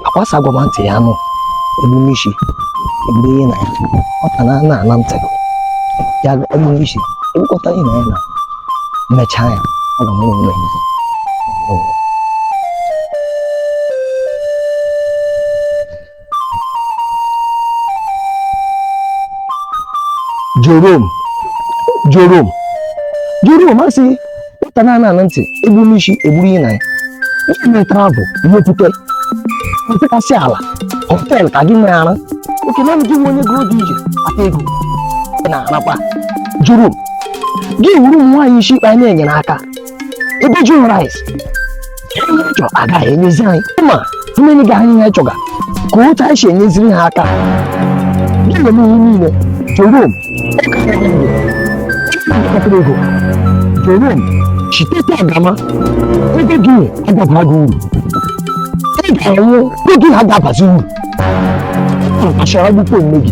akwa asị agwa ma ntị ya anụ egburu isi egburu ya na ya nwata na na ana ntị ya egburu isi egbukọta ya na ya na mechaa ya ọ ga-ama onwe ya Jerome Jerome Jerome asị nwata na ana ntị egburu isi egburu ya na ya ihe metara bụ ihe okwute mfekasị ala hotel ka gị nwere ara oke na gị nwe onye gụrụ dị ije ata ego na anakwa Jerome gị wuru ụmụ nwaanyị isi mkpe anyị na-enyere aka ebe ji nwere anyị ihe chọ agaghị enyezi anyị ma mmiri ga anyị ihe chọga ka otu anyị si enyeziri ha aka na-eme ihe niile Jerome ọkara ego Jerome chiteta agama ego gị agabara gị uru ị ga-enwe ego ha ga-abazi uru achara gbukwe nne gị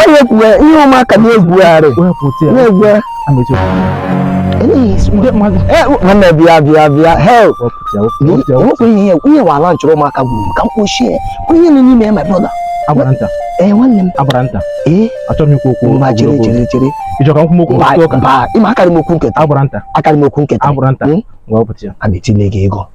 Onye kwuwe ihe ụmụaka na-egwugharị na-egwugharị nwanne bịa bịa bịa hell nwekwa ihe ihe wala nchọrọ ụmụaka gburu ka m kpochie ihe nọ n'ime ya my brother ee nwanne m agbara nta ee achọrọ m ikwu okwu ma chere chere chere ị chọ ka m kwuo okwu ụka ị ma akarị m okwu nketa agbara nta akarị m okwu nketa agbara nta ngwa ọpụta ya a na-etile gị ego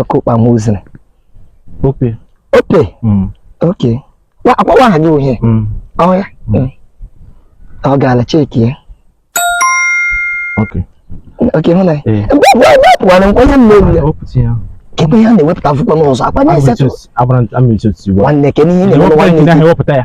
ọkụ kpama uzere ope ope mm. okay akpọwa aha gị uhie mm. oya mm. ọ gaala check ya okay hụ na wepụwara nkwenye m n'elu ya ebe ya na-ewepụta akwụkwọ n'ụzọ akwa na-esetụ nwanne ke n'ihe na-ewepụta ya